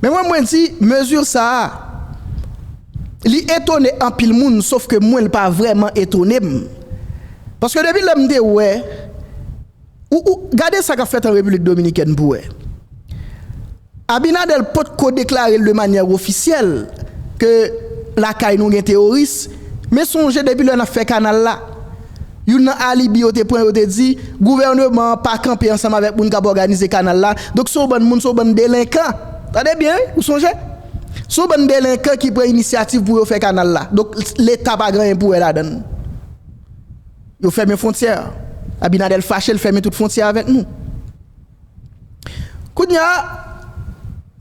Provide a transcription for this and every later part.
Men mwen mwen di mezi sa a li etone anpil moun sof ke mwen li pa vrèman etone m. Paske depi lè m te wè ou ou gade sa k ap fèt an Repiblik Dominikèn pou wè. Abinader potko deklare l de manyè ofisyèl ke lakay nou gen teworis men sonje depi lè n ap fè kanal la. Youn nan alibi yo te pran yo te di gouvèneman an pa kanpe ansanm avèk moun k ap òganize kanal la donk se yon bann moun se yon bann delenkan tande byen wi ou sonje se yon bann delenkan ki pran inisyativ pou yo fè kanal la donk leta pa gen anyen pou wè ladan l yo fèmen fwontyè a Abinader fache l fèmen tout fwontyè avèk nou. Kounye a,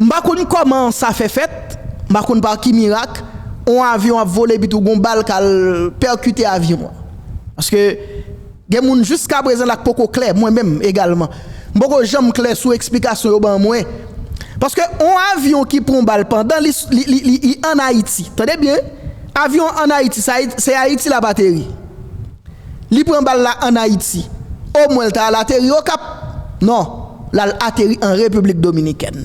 m pa konn kòman sa fè fèt, m pa konn pa ki mirak, yon avyon ap vole epi tou gon bal k al pèkite avyon an. Paske, gen moun jiskaprezan la k poko klè, mwen menm egalman. M poko janm klè sou eksplikasyon yo ban mwen. Paske, yon avyon ki pran yon bal pandan li ann Ayiti, tande byen, avyon an ann Ayiti, se Ayiti l ap ateri. Li pran bal la an Ayiti. O mwen l ta al ateri Okap. Non, l al ateri an Repiblik Dominikèn.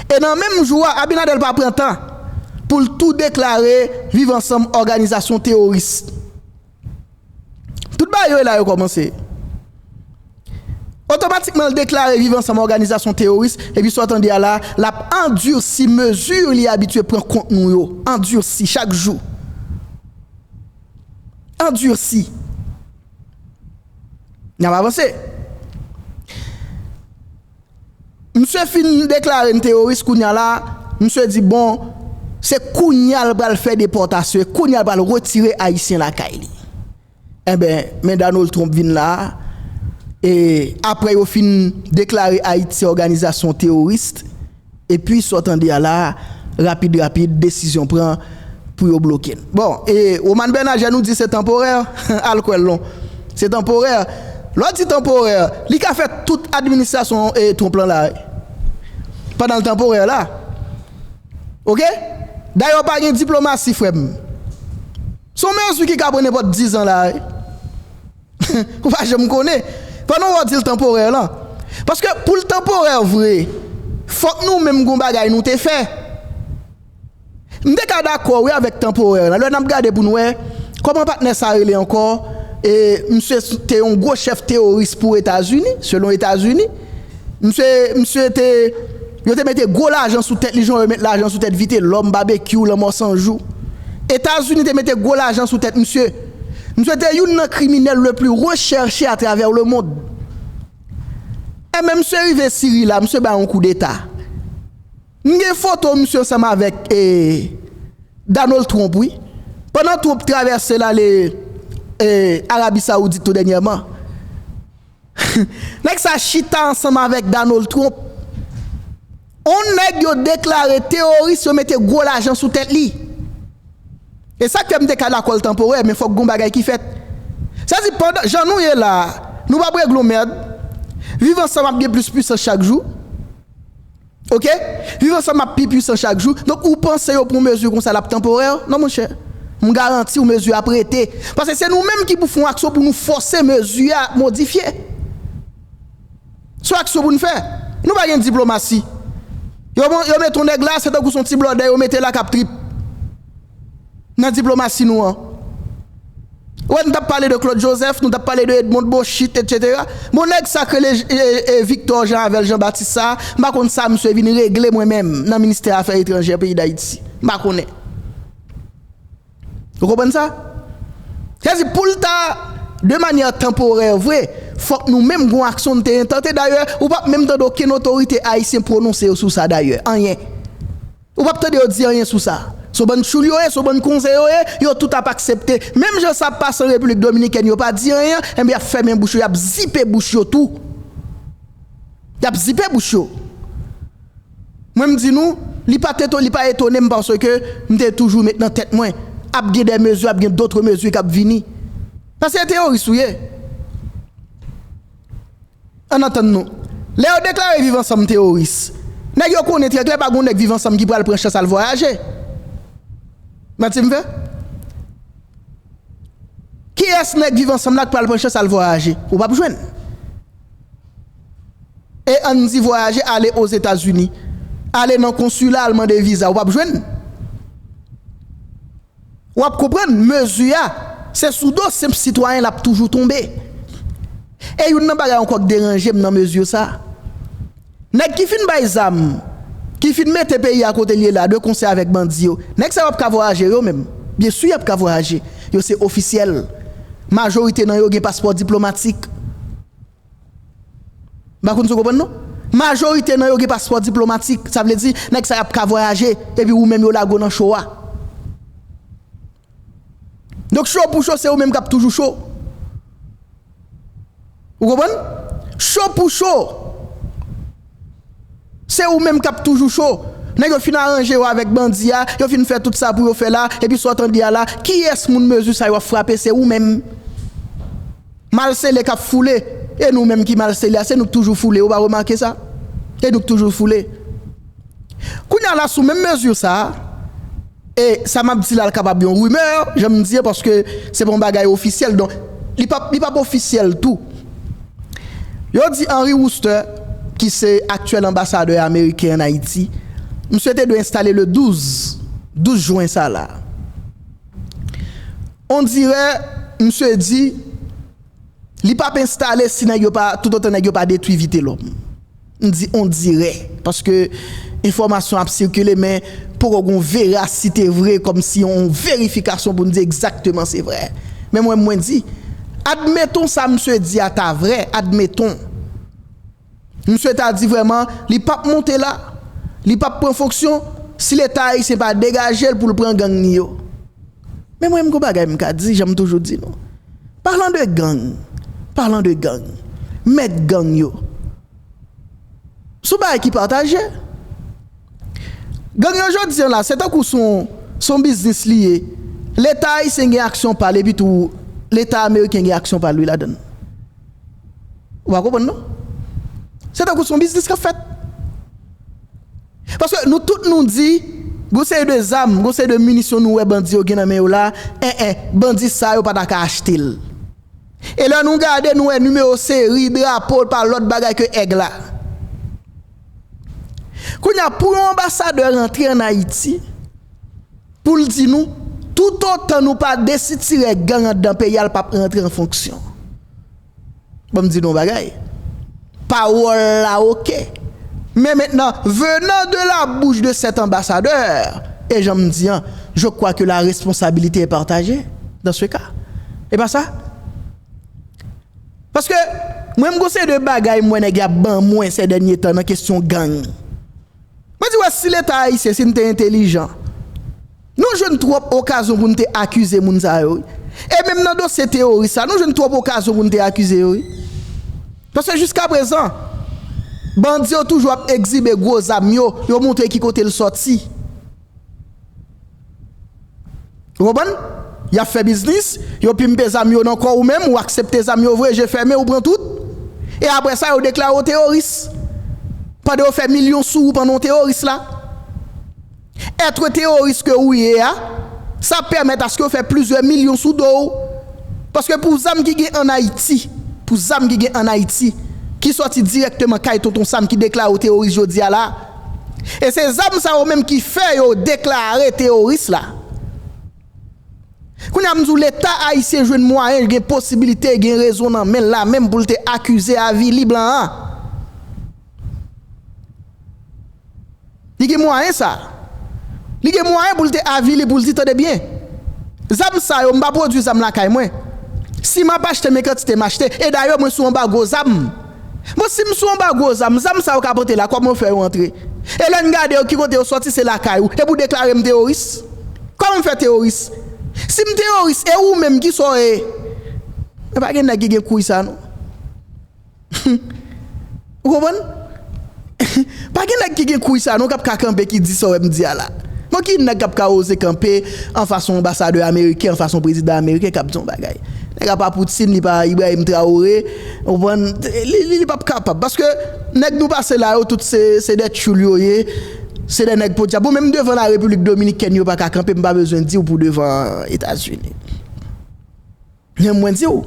E nan menm jou a, Abinader pa pran tan pou l tou deklare Viv Ansanm òganizasyon teworis. Tout bagay yo e la yo kòmanse. Otomatikman l deklare Viv Ansanm òganizasyon teworis epi sa w tande a la, l ap andursi mezi li abitye pran kont nou yo. Andursi chak jou. andursi. N ap avanse. Msye fin deklare n teworis kounye a la, msye di bon, se kounye a l pral fè depòtasyon, e kounye a l pral retire Ayisyen lakay li. Enben, men Donald Trump vin la a, e apre yo fin deklare Ayiti òganizasyon teworis, Epi sa w tande a la, rapid rapid, desizyon pran pou yo bloke n. Bon, e Romane Bernager nou di se tanporè, al kwè l non. Se tanporè. Lè w di tanporè, li ka fè tout administrasyon Trump lan la pandan l tanporè la. Oke? Dayè pa gen diplomasi frè m. Se yon mezi ki ka pran nenpòt dizan la. Ou pa janm konnen. Pandan wap dil tanporè lan. Paske poul tanporè vre. Fok nou menm gon bagay nou te fè. M te ka dakò wi avèk tanporè lan. Lè nap gade poun wè. Koman patnè sa rele ankò. E misye te yon gwo chèf teworis pou etazini. Selon etazini. Misye misye te. Yo te mete gwo lajan sou tèt li jan yo met lajan sou tèt vitelòm, babekyou, lanmò sanjou. Etazini te mete gwo lajan sou tèt misye. Misye te youn nan kriminèl le pli rechèche a travè le mond. Enben misye rive Siri la, misye bay yon koudeta. M gen foto misye ansanm avèk e Donald Trump wi. Pandan Trump travèse l ale e Arabi Saoudit tou dènyèman. Nèg sa chita ansanm avèk Donald Trump, on nèg yo deklare teworis yo mete gwo lajan sou tèt li. E sa k fè m te ka dakò l tanporè, men fòk gon bagay ki fèt. Sa di pandan jan nou ye la a, nou p ap regle on merd, viv ansanm ap gen plis pwisans chak jou. Ok viv ansanm ap pi pwisan chak jou donk ou panse yo pran mezi konsa lap tanporè non monchè m garantiw mezi ap rete paske se nou menm ki pou fon aksyon pou nou fòse mezi a modifye son aksyon pou n fè nou pa gen diplomasi yo met yon nèg la se tankou son ti blòdè yo mete la kap trip. nan diplomasi nou an. Ou wè nou tap pale de Claude Joseph, nou tap pale de Edmond Beauchit etc. Bon nèg sa k rele Victor Jean avèl Jean Baptiste sa, m pa konn sa misye vin regle mwen menm nan ministè afè etranjè peyi Dayiti. M pa konnen. Ou konprann sa? Sa vle di pou l ta de manyè tanporè vre, fòk nou menm gon aksyon nou te entante dayè ou pap menm tande okenn otorite ayisyen pwononse yo sou sa dayè, anyen. Ou pap tande yo di anyen sou sa. Son bann tchoul yo ye, son bann konze yo ye, yo tout ap aksepte. Menm jan sa ap pase an Repiblik Dominikèn yo pa di anyen an, enben y ap fèmen bouch yo, y ap zipe bouch yo tou. Y ap zipe bouch yo. Mwen m di nou, li pa t li pa etone m paske m te toujou met nan tèt mwen, ap gen des mesures, ap gen d'autres mesures k ap vini. Paske teyoris ou ye. Ann antann nou. Lè yo deklare viv ansanm teworis, nèg yo konnen trè klè pa gen yon nèg viv ansanm ki pral pran chans al vwayaje. Manti m fè? Kiyès nèg viv ansanm la k pral pran chans al vwayaje? Ou pap jwenn. E ann di vwayaje ale Ozetazini, ale nan konsila al mande viza, ou pap jwenn. W ap konprann mezi a, se sou do senp sitwayen l ap toujou tonbe. E youn nan bagay ankò k deranje m nan mezi sa a, nèg ki fin bay zam, ki fin mete peyi a kote l ye la a de konsè avèk bandi yo, nèg sa yo ap ka vwayaje yo menm? Byensi y ap ka vwayaje, yo se ofisyèl, majorite nan yo gen paspò diplomatik. M pa konn si w konprann non. Majorite nan yo gen paspò diplomatik, sa vle di nèg sa y ap ka vwayaje epi ou menm yo lage w nan cho a. Donk cho pou cho se ou menm k ap toujou cho. Ou konprann? Cho pou cho! Se ou menm kap toujou cho. Nèg yo fin aranje yo avèk bandi a, yo fin fè tout sa pou yo fè la, epi sa w tande a la, kiyès moun mezi sa yo ap frape se ou menm. Mal sele kap foule, e nou menm ki mal sele a se nou k toujou foule, ou pa remake sa? E nou k toujou foule. Kounye a la sou menm mezi sa a. E sa map di la kapab yon rumeur jan m di an paske se pa yon bagay ofisyèl donk li pap li pap ofisyèl tou. Yo di Henry Wooster ki se aktyèl anbasadè ameriken an Ayiti misye te dwe enstale le 12, 12 jwen sa la. On dirè misye di li pap enstale si nèg yo pa toutotan nèg yo pa detwi Vitelòm. M di ondirè paske enfòmasyon ap sikile men poko gen yon verasite vre kòmsi yon verifikasyon pou n di egzakteman se vrè. Men mwen mwen di, admeton sa msye di a ta vrè, admeton. Msye ta di vrèman li pa p monte la, li pa p pran fonksyon si leta ayisyen pa degaje l pou l pran gang li yo. Men mwen m gon bagay m ka di jan m toujou di nou palan de gang palan de gang mèt gang yo s on bagay ki pataje gang yo jodi an la se tankou s on biznis li ye leta ayisyen gen aksyon pa l epi tou leta ameriken gen aksyon pa l wi ladann ou pa konprann non se tankou s on biznis k ap fèt. Paske nou tout nou di gon seri de zam, gon seri de minisyon nou wè bandi yo gen nan men yo la, en en, bandi sa yo pa ta ka achte l. E lè nou gade nou wè nimewo seri, drapo, pa lòt bagay ke èg la. Kounye a, pou yon anbasadè rantre an Ayiti, pou l di nou, toutotan nou pa desitirè gang anndan peyi a, l pap rantre an fonksyon. Bon m di nou yon bagay, pawòl la ok, men mentnan venant de la bouch de cet ambassadeur, e jan m di an, je crois que la responsabilité est partagée dans ce cas, e pa sa? Paske mwen m gon seri de bagay m wè nèg yo ap ban mwen sè dènye tan nan kesyon gang. Mwen di wè si leta ayisyen si n te entelijan nou jwenn twòp okazyon pou n te akize moun sa yo wi e menm nan dosye teworis sa nou jwenn twòp okazyon pou n te akize yo wi paske jiskaprezan bandi yo toujou ap ekzibe gwo zam yo yo montre ki kote l sòti. Ou konprann? Yap fè biznis, yo pimpe zam yo nan kòw ou menm, ou aksepte zam yo vre je fèmen ou pran tout, e aprè sa yo deklare w teworis pandan yo fè milyon sou ou pandan w teworis la. Etre teworis ke ou ye a, sa ap pèmèt aske yo fè plizyè milyon sou do w, paske pou zam ki gen an Ayiti, pou zam ki gen an Ayiti, ki sòti dirèkteman kay Tonton Sam ki deklare w teworis jodi a la, E se zam sa yo menm ki fè yo deklare teyoris la. Kounye a m di w leta ayisyen jwenn mwayen, gen posibilite, gen rezon nan men l la menm pou l te akize, avili blan an. Li gen mwayen sa. Li gen mwayen pou l te avili, pou l di tande byen, zam sa yo m pa pwodui zam lakay mwen. Si m ap achte men kantite m achte. E dayè mwen sou anbago zam. Bon si m sou anba gwo zam, zam sa yo ka pote la kòman yo fè yo antre? E lè n gade yo ki kote yo sòti se lakay ou, epi ou deklare m teworis? Kòman m fè teworis? Si m teworis e ou menm ki sa w ye? Men pa gen nèg ki gen kouy sa non. Humm. Ou konprann? Pa gen nèg ki gen kouy sa non kap ka kanpe ki di sa w wè m di a la. Bon ki nèg kap ka oze kanpe anfas yon anbasadè ameriken, anfas yon prezidan ameriken kap di yon bagay. Nèg a pa Poutine, li pa Ibrahim Traoré, ou konprann, li pap kapab. Paske nèg nou pase la yo tout se dè tchoul yo ye, se dè nèg podyab. Bon menm devan la Repiblik Dominikèn yo pa ka kanpe, m pa bezwen di w pou devan Etazini. Men mwen di w,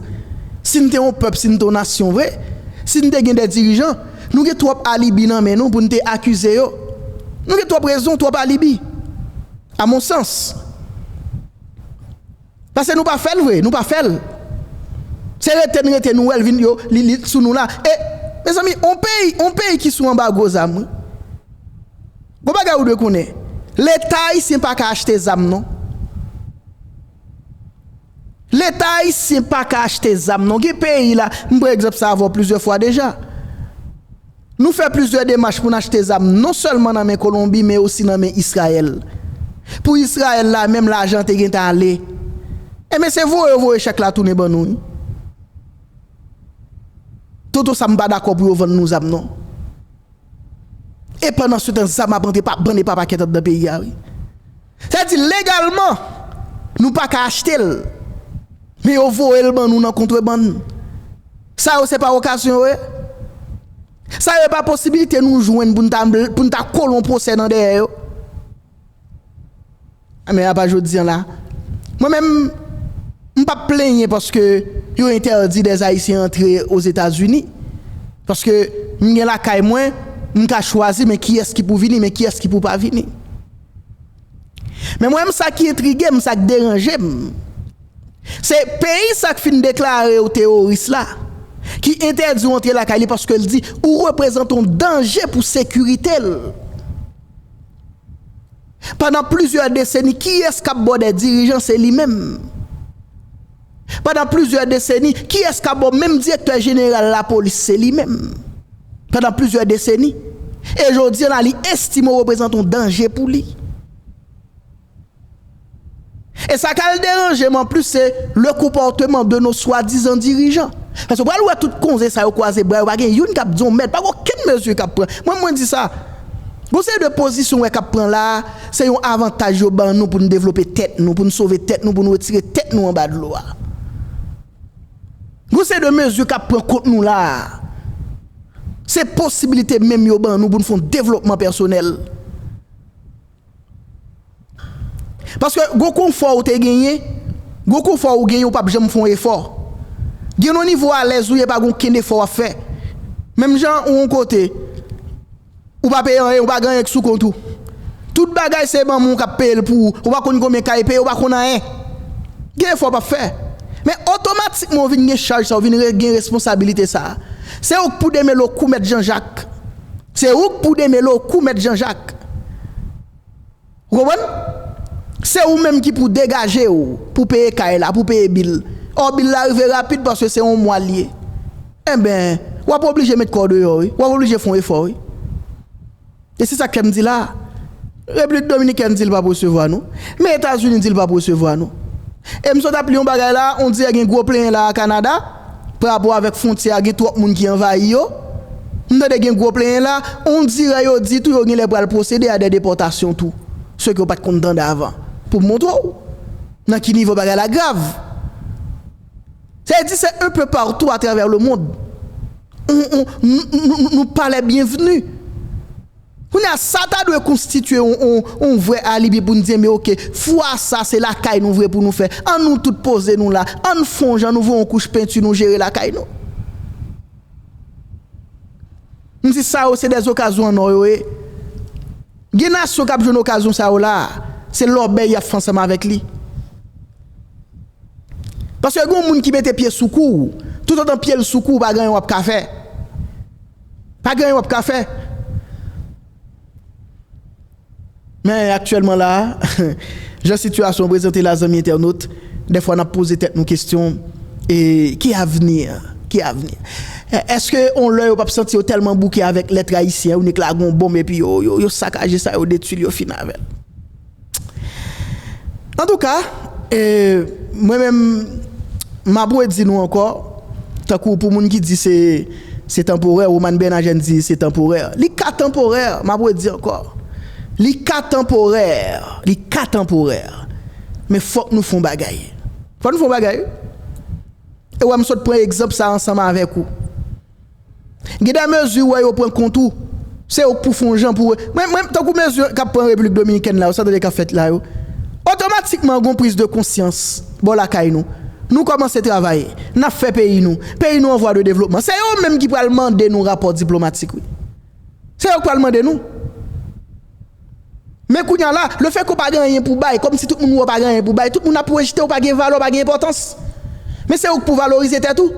si n te yon pèp, si n te yon nasyon vre, si n te gen de dirijan, nou gen twòp alibi nan men nou pou n te akize yo. Nou gen twòp rezon, twòp alibi, a mon sans. Pase nou pa fè l vre, nou pa fè l. Se rete n rete nou wè l vin yo, li li sou nou la. E, mezanmi, yon peyi, yon peyi ki sou anbago zam wi. Gon bagay ou dwe konnen, Leta ayisyen pa ka achte zam non. Leta ayisyen paka achte zam non gen peyi la m pran egzanp sa avèw plizyè fwa deja nou fè plizyè demach poun achte zam non sèlman nan men kolonbi men osi nan men israyèl pou israyèl la menm lajan an te gentan ale enben se voye yo voye chèk la tounen ban nou wi toto sa m pa dakò pou yo vann nou zam non. E pandan se tan zam ap antre pa bann e pa pakèt anndan peyi a wi. Sa di legalman nou pa ka achte l men yo voye l ban nou nan kontrebann. Sa yo se pa okazyon yo ye? Sa yo e pa posibilite nou jwenn pou n ta kolon pwosè nan dèyè yo? Men apa jodi an la, mwen menm, m pap plenyen paske yo entèdi dè Ayisyen antre Ozetazini, paske m gen lakay mwen, m ka chwazi men kiyès ki pou vini, men kiyès ki pou pa vini. Men mwen menm sa ki entrige m, sa k deranje m, se peyi sa k fin deklare w teworis la, ki entèdi w antre lakay li paske l di ou reprezante yon danje pou sekirite l. Pandan plizyè deseni kiyès kap bo dè dirijan se li menm. Pandan plizyè deseni kiyès ka bo menm direktè jeneral lapolis se li menm. Pandan plizyè deseni e jodi an la li estime w reprezante yon danje pou li. E sa kal deranje m anplis se le konpòteman de nos swadizan dirijan. Paske ou pral wè tout konze sa yo kwaze bra yo pa gen youn k ap di yon mèd, pa gen okenn mezi k ap pran. Mwen menm mwen di sa, gen yon seri de pozisyon ou wè k ap pran la a, se yon avantaj yo ban nou pou n devlope tèt nou, pou n sove tèt nou, pou n retire tèt nou anba dlo a. Gen yon seri de mezi k ap pran kont nou la a, se posibilite menm yo ban nou pou n fè yon devlopman pèsonèl. Paske gon konfò ou te genyen, gon konfò ou genyen ou pap janm fè yon efò. Gen yon nivo alèz ou ye pa gen okenn efò wap fè. Menm jan ou yon kote, ou pa peye anyen, ou pa gen anyen ki sou kont ou. Tout bagay se manman ou kap peyel pou ou. Ou pa konn konbyen kay peye, ou pa konn anyen. Gen efò ou pap fè. Men otomatikman ou vin gen chaj sa, ou vin gen responsabilite sa. Se ouk pou demele ou kou mèt Janjak Se ou k pou demele w kou mèt Janjak. Ou konprann? Se ou menm ki pou degaje w pou peye kay la, pou peye bil. Ò bil la rive rapid paske se yon mwa l ye. Enben, w ap oblije met kò w deyò wi. W ap oblije fè yon efò wi. E se sa k fè m di la a, Repiblik Dominikèn di l p ap resevwa nou, men Etazini di l p ap resevwa nou. E m sot ap li yon bagay la a, ondirè gen gwo plenyen la a Kanada. Parapò avèk fwontyè a gen twòp moun ki anvayi yo. M tande gen gwo plenyen la, ondirè yo di tou yo genlè pral pwosede a dè depòtasyon tou, se ke w pat konn tande avan. Pou m montre w nan ki nivo bagay la grav. Sa vle di se un peu partout à travers le monde. Nou palè byenvni. Kounye a, sa ta dwe konstitye yon vrè alibi pou n di enben oke, fwa sa a se lakay nou vre pou nou fè. An nou tout poze nou la, an n fon jan nou voye yon kouch penti nou jere lakay nou. M di sa yo se dè okazyon an nò yo ye. Gen nasyon k ap jwenn okazyon sa yo la a, se lòbèy y ap fè ansanm avèk li. Paske gen yon moun ki mete pye sou kou w, toutotan pye l sou kou w pa gen anyen w ap ka fè. Pa gen anyen wap ka fè. Men aktyèlman la a, jan sitiyasyon an prezante la zanmi entènot, dèfwa nap poze tèt nou kesyon e ki avni an? Ki avni an? Eske on lè yo pap santi yo tèlman bouke avèk lèt ayisyen, on ek la gon bonm epi yo sakaje sa, yo detwi l, yo fin avè l? Antouka, mwen menm, m ap redi nou ankò, tankou pou moun ki di se tanporè, Roman Bernagène di se tanporè. Li ka tanporè, m ap redi ankò. Li ka tanporè, li ka tanporè, men fòk nou fè yon bagay. Fòk nou fè yon bagay wi. E wè m sot pran egzanp sa ansanm avèk ou. Gen de mezi ou wè yo pran kont ou, se ou k pou fon jan pou, mwen, mwen, tankou mezi k ap pran Repiblik Dominikèn la yo, sa w tande k ap fèt la yo, otomatikman gon priz de konsyans bò lakay nou. Nou kòmanse travay, n ap fè peyi nou, peyi nou an vwa de devlopman. Se yo menm ki pral mande nou rapò diplomatik wi. Se yo k pral mande nou. Men kounye a la, le fè ke w pa gen anyen pou w bay, kòmsi tout moun wè w pa gen anyen pou w bay, tout moun ap rejte w, w pa gen valè, w pa gen enpòtans. Men se ou k pou valorize tèt ou.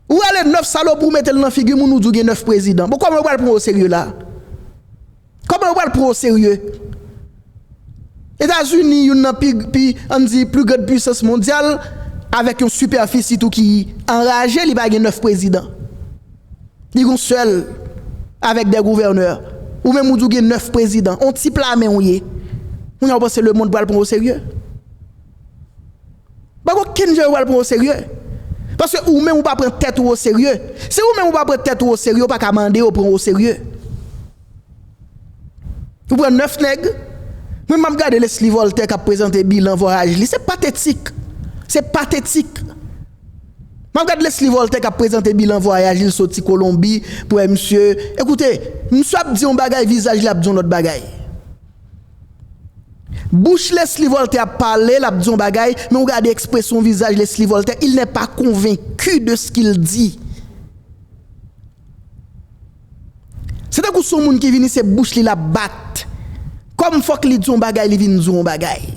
Ou rale 9 salopri ou mete l nan figi moun ou di w gen 9 prezidan. Bon kòman yo pral pran w oserye la a? Kòman yo pral pran w oserye? Etazini youn nan pi, pi, an n di pli grand puisans mondyal avèk yon sipèfisi tou ki anraje li pa gen 9 prezidan. Li gen yon sèl avèk 2 gouvènè. Ou menm ou di w gen 9 prezidan. On ti pla men ou ye. Kounye a ou panse lemonn pral pran w oserye? Pa gen okenn jan yo pral pran w oserye. Paske ou menm ou pa pran tèt ou oserye. Si ou menm ou pa pran tèt ou oserye, ou pa ka mande yo pran w oserye. Ou pran 9 nèg, mwen m ap gade Lesly Voltaire k ap prezante bilan vwayaj li, se patetik. Se patetik. M ap gade Lesly Voltaire k ap prezante bilan vwayaj li, l soti Kolonbi, pou wè misye. Ekoute, misye ap di yon bagay, vizaj li ap di yon lòt bagay. Bouch Lesly Voltaire ap pale, l ap di yon bagay, men ou gade ekspresyon vizaj Lesly Voltaire, il n'est pas convaincu de ce qu'il dit. Se tankou son moun ki vini se bouch li l ap bat, kòm fòk li di yon bagay li vin di yon bagay.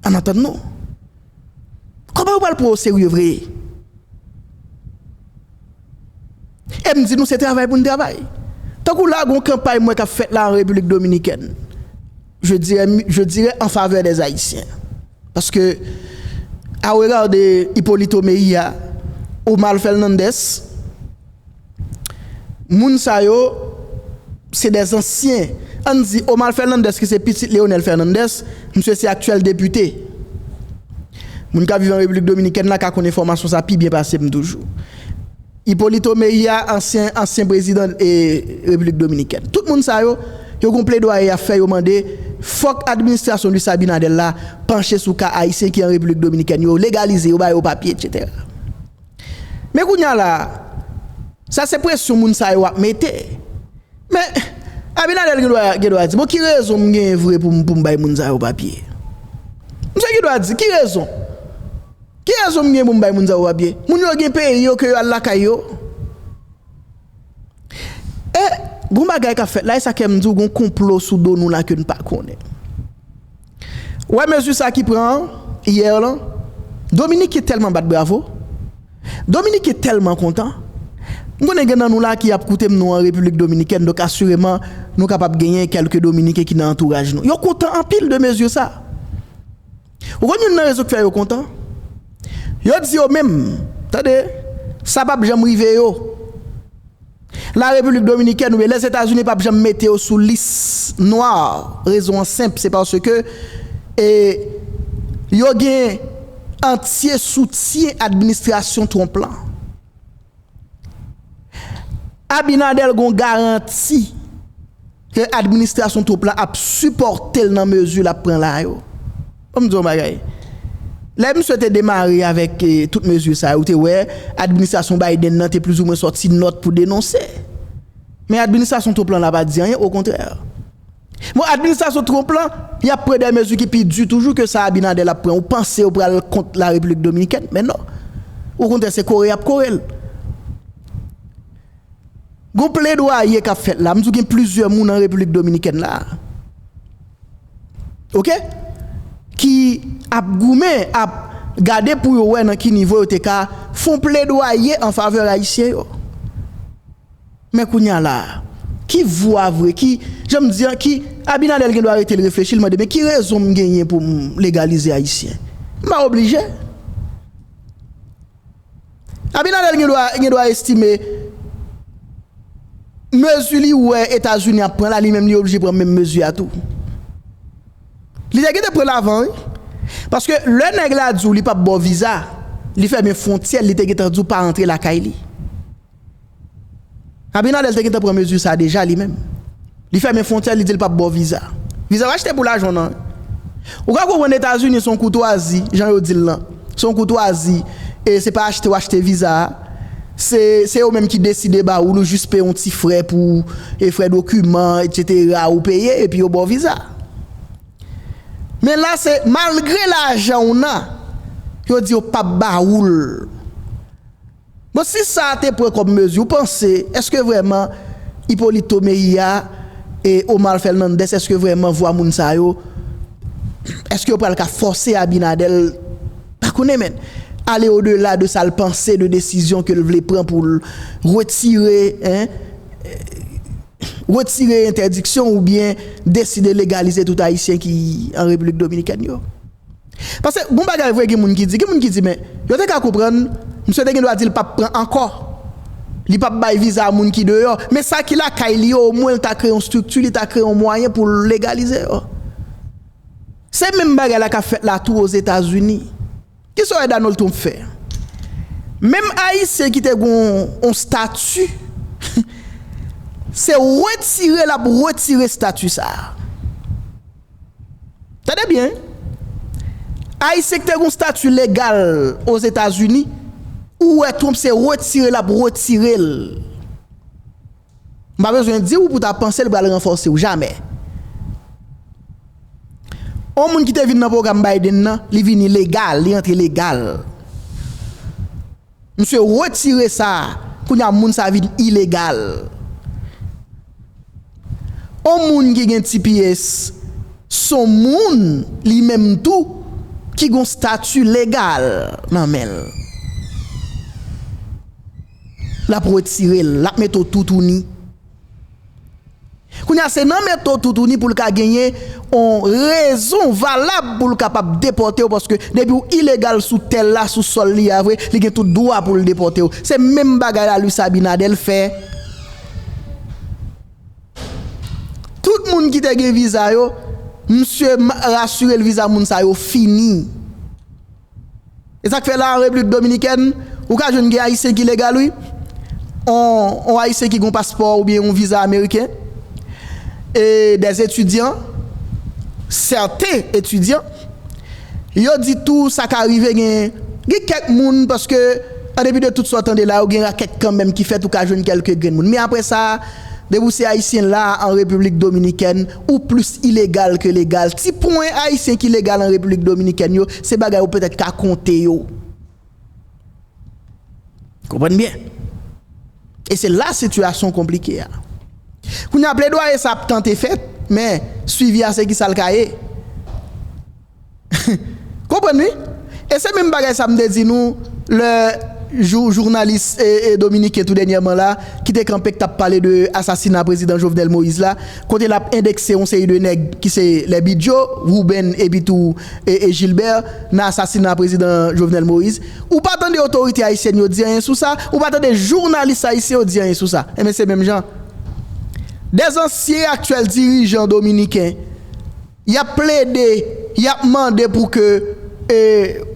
An atann nou. Koman yo pral pran w oserye vre? E m di nou se travay pou n travay. Tankou la gon kanpay m wè k ap fèt la an Repiblik Dominikèn, je dirè je dirè an favè dè Ayisyen. Paske a regard de Hyppolito Mejia, Omar Fernandez, Moun sa yo se dè zansyen. Ann di Omar Fernandez ki se pitit Leonel Fernandez, misye se aktyèl depite. Moun k ap viv an Repiblik Dominikèn la ka konn enfòmasyon sa pi byen pase m toujou. Hipolito Mejia, ansyen ansyen prezidan Repiblik Dominikèn. Tout moun sa yo, yo gen yon pledwaye y ap fè, yo mande fòk administrasyon Luis Abinader la panche sou ka Ayisyen ki an Repiblik Dominikèn yo, legalize yo, ba yo papye, etsetera. Men kounya la a, sa se presyon moun sa yo ap mete. Men, Abinader gen dwa di, bon ki rezon m genyen vre pou m bay moun sa yo papye? Misye gen dwa di, ki rezon? Ki rezon m genyen pou m bay moun sa yo papye? Moun yo gen peyi yo ke yo al lakay yo. E, gen yon bagay k ap fèt la, e sa k fè m di w gen yon konplo sou do nou la ke n pa konnen. Ou wè mezi sa ki pran an hier lan Dominique telman bat bravo Dominique telman kontan m konnen gen nan nou la ki ap koutem nou an République Dominicaine donk asireman nou kapab genyen kelke Dominique ki nan antouraj nou yo kontan anpil de mezi sa ou konn youn nan rezon ki fè yo kontan yo di yo menm tande sa pap janm rive yo. La République Dominicaine oubyen Lèzetazini pap janm mete yo sou lis nwa, rezon an senp se paske yo gen antye soutyen administrasyon Trump lan. Abinader gon garanti Ke administrasyon Trump la ap sipòte l nan mezi l ap pran la yo. Fò m di w yon bagay, lè misye te demare avèk tout mezi sa yo, ou te wè administrasyon Biden nan te plizoumwen sòti nòt pou denonse. Men administrasyon Trump lan la pa di anyen, okontrè. Bon, administrasyon Trump lan, y ap pran de mezi ki pi di toujou ke sa Abinader ap pran. Ou panse yo pral kont la Repiblik Dominikèn? Men non. Okontrè, se kore y ap kore l. Gon pledwaye kap fèt la, m di w gen plizyè moun an Repiblik Dominikèn la a ok ki ap goumen ap gade pou yo wè nan ki nivo yo te ka fon pledwaye an favè ayisyen yo men kounye a la a ki vwa vre ki jan m di an ki Abinader gen dwa rete l reflechi l mande men ki rezon m genyen pou m legalize ayisyen m pa oblije. Abinader gen dwa estime mezi li wè Etazini ap pran la li menm li oblije pran menm mezi a tou. Li te gentan pran l avan wi. Paske lè nèg la di w li pap ba w viza, li fèmen fwontyè l li te gentan di w pa antre lakay li. Abinader te gentan pran mezi sa deja li menm. Li fèmen fwontyè li di li pap ba w viza. Viza w achte pou lajan w nan. Ou ka konprann Etazini se yon koutwazi jan yo di l lan. Se yon koutwazi e se pa achte w achte viza a. Se se yo menm ki deside ba ou l ou jis peye yon ti frè pou e frè dokiman etsetera ou peye epi yo ba w viza. Men la se malgre lajan w nan yo di yo pap ba ou l. Bon si sa te pran kòm mezi ou panse eske vrèman Hipolito Mejia e Omar Fernandez eske vrèman vwa moun sa yo eske yo pral ka fòse Abinader pa konnen men ale o dela de sal panse de desizyon kel vle pran poul retire retire entèdiksyon oubyen deside legalize tout ayisyen ki an Repiblik Dominikèn yo. Pase bon bagay vre gen moun ki di gen moun ki di men yo te ka konprann misye te gen dwa dil pap pran ankò li pap bay viza a moun ki deyò men sa ki lakay li yo omwen li ta kreye yon strikti li ta kreye yon mwayen poul legalize yo se menm bagay la kap fèt la tou ozetazini kisa wè Donald Trump fè menm ayisyen ki te gon yon stati se retire lap retire stati sa. Tande byen wi! Ayisyen ki te gen yon stati legal Ozetazini, ou wè Trump se retire l ap retire l. M pa bezwen di w pou w ta panse l pral ranfòse w. Jamè! Yon moun ki te vin nan pwogram Biden nan, li vini legal, li antre legal. Msye retire sa kounya moun sa vin ilegal on moun ki gen tps son moun li menm tou ki gon stati legal nan menl lap retirel lap mete w toutouni. Kounye a se nan men to toutouni pou l ka genyen yon rezon valab pou l kapab depòte w paske depi w ilegal sou tè l la, sou sòl li a vre, li gen tout dwa pou l depòte w. Se menm bagay la Luis Abinader fè tout moun ki te gen viza yo, misye rasire l viza moun sa yo fini. E sak fè la an replik dominikèn ou ka jwenn gen ayisyen ki legal wi on ayisyen ki gon paspò oubyen on viza ameriken e des etidyan sèten etidyan yo di tou sa ka rive gen gen kèk moun paske an depi de tout sa w tande la yo gen rakèt kanmenm ki fèt ou ka jwenn kèlke grenn moun men aprè sa depi w se ayisyen la an repiblik dominikèn ou plis ilegal ke legal. Ti pwen Ayisyen ki legal an Repiblik Dominikèn yo, se bagay ou petèt ka konte yo. Konprann byen. E se la sitiyasyon konplike a. Kounye a, pledwaye sa ap tante fèt, men swivi a se ki sa l ka ye. Konprann wi. E se menm bagay sa m te di nou lè jou jounalis dominiken tou dènyèman la ki te kanpe k t ap pale de asasina prezidan Jovenel Moïse la kote l ap endekse yon seri de nèg ki se lè Bidjo, Wouben epi tou Jilbè nan asasina prezidan Jovenel Moïse. Ou pa tande otorite ayisyèn yo di anyen sou sa, ou pa tande jounalis ayisyen yo di anyen sou sa. Enben se menm jan dè ansyen e aktyèl dirijan dominiken. Y ap plede, y ap mande pou ke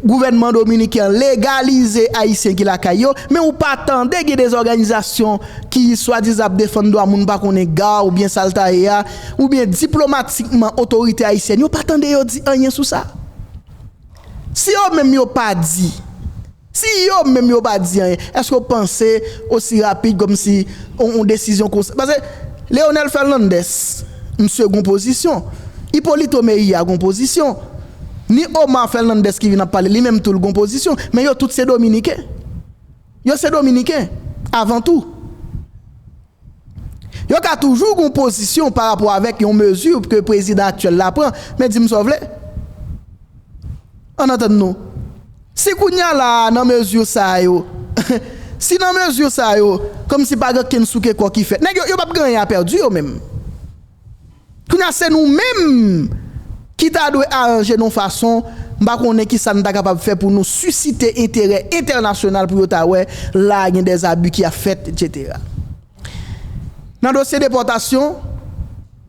gouvènman dominiken an legalize Ayisyen ki lakay yo, men ou pa tande gen de òganizasyon ki swadizan ap defann dwa moun m pa konnen ga oubyen sa l ta ye a, oubyen diplomatikman otorite ayisyèn yo pa tande yo di anyen sou sa. Si yo menm yo pa di Si yo menm yo pa di anyen, èske w panse osi rapid kòmsi yon desizyon konsa? Pase Leonel Fernandez, misye gen yon pozisyon. Hyppolito Mejia gen yon pozisyon. Ni Omar Fernandez ki vin ap pale, li menm tou l gen yon pozisyon. Men yo tout se dominiken. Yo se dominiken avan tou. Yo ka toujou gen yon pozisyon pa rapò avèk yon mezi ke prezidan aktyèl la pran, men di m sa w vle. Ann antann nou, si kounye a la a nan mezi sa yo, si nan mezi sa yo, kòmsi pa gen okenn souke kò ki fèt. Nèg yo, yo p ap gen anyen a pèdi yo menm. Kounya se nou menm ki ta dwe aranje nou fason, m pa konnen kisa n ta kapab fè pou nou sisite enterè entènasyonal pou yo ta wè la a gen des abus ki ap fèt etc. Nan dosye depòtasyon,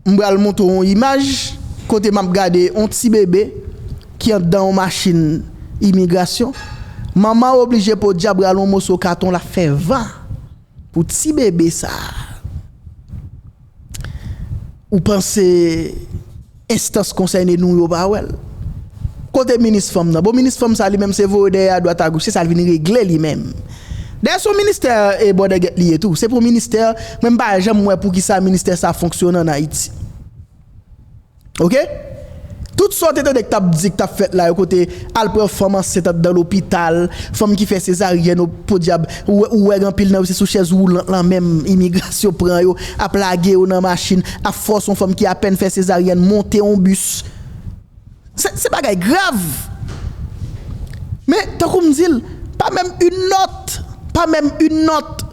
m pral montre w yon imaj kote m ap gade yon ti bebe ki anndan yon machin imigrasyon, manman an oblije podyab rale yon moso katon l ap fè van pou ti bebe sa a. Ou panse enstans konsène nou yo pa wè l? Kote minis fanm nan? Bon minis fanm sa li menm se voye dèyè adwat agoch, se sa l vin regle li menm. Dayè son ministè e bòdègèt li ye tou. Se pou ministè, mwen m pa janm wè poukisa ministè sa fonksyone an Ayiti. Ok tout sa w te tande k tap di k tap fèt la yo kote al pran fanm ansent andan lopital fanm ki fè sezaryèn o podyab ou wè gen anpil nan yo se sou chèz woulant lan menm imigrasyon pran yo ap lage yo nan machin ap fòse yon fanm ki apèn fè sezaryèn monte yon bis se bagay grav men tankou m di l pa menm yn nòt pa menm yn nòt.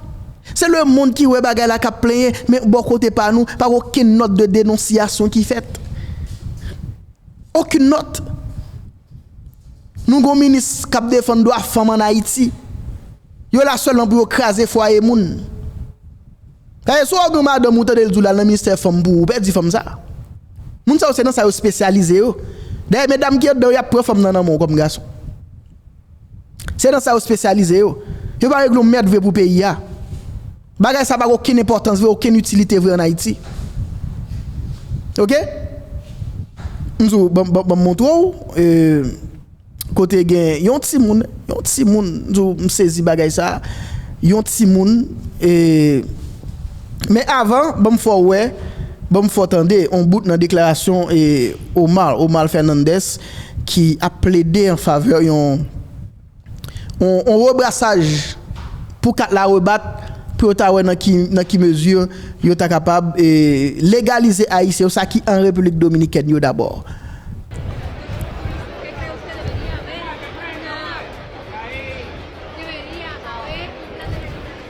Se le mond ki wè bagay la kap plenyen, men bò kote pa nou, pa gen okenn nòt de denonsiyasyon ki fèt. Okenn nòt. Nou gen yon minis kap defann dwa fanm an Ayiti. Yo la sèlman pou yo kraze fwaye moun. Dayè si w ap gen yon madanm ou tande l di w l al nan ministè fanm pou ou pèdi fanm sa. Moun sa yo se nan sa yo spesyalize yo. Dayè medam ki andan yo y ap pran fanm nan nan men w kòm gason. Se nan sa yo spesyalize yo. Yo pa regle yon merd vre pou peyi a. Bagay sa pa gen okenn enpòtans vre, okenn itilite vre an Ayiti. Ok. M di w, ban m montre w kote gen yon timoun, yon timoun, m di w m sezi bagay sa. Yon timoun e Men avan, ban m fè w wè, ban m fè w tande yon bout nan deklarasyon Omar, Omar Fernandez. ki ap plede an favè yon yon rebrasaj pou kat la rebat pou yo ta wè nan ki nan ki mezi yo ta kapab legalize Ayisyen yo sa ki an Repiblik Dominikèn yo dabò.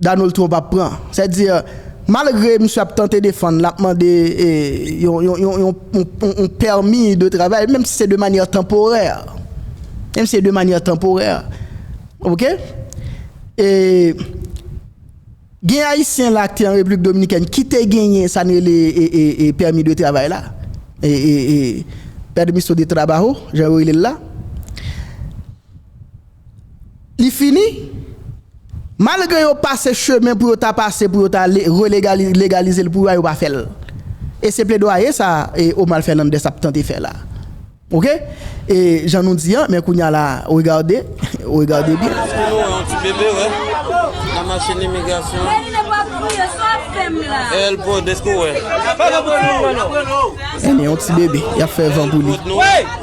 Donald Trump ap pran. Sè di, malgre misye ap tante defann, l ap mande yon pèmi de travay, menm si se de manyè tanporè. Menm si se de manyè tanporè. Ok? E gen Ayisyen la ki te an Repiblik Dominikèn ki te genyen sa nou rele pèmi de travay la, permiso de trabajo, jan yo rele l la. li fini. Malgre yo pase chemen pou yo ta pase pou yo ta re-legalize l pou yo a, yo pa fè l. E se pledwaye sa a Omal Fènandès ap tante fè la. Ok? E jan nou di an, men kounye a la, regade, regade byen. Èske nou wè yon ti bebe wè nan machin imigrasyon an? Elpo, èske ou wè? Èske ou wè yon ti bebe y ap fè van pou li?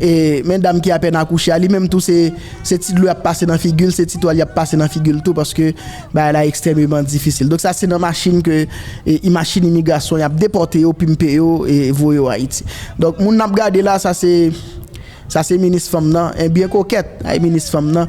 E men dam ki apèn akouche a, li menm tou se ti dlo y ap pase nan figi l, se ti twal y ap pase nan figi l tou paske bagay la ekstrèmeman difisil. Donk sa se nan machin ke machin imigrasyon y ap depòte yo, pimpe yo e voye yo Ayiti. Donk moun n ap gade la sa se minis fanm nan, byen kokèt, ay minis fanm nan.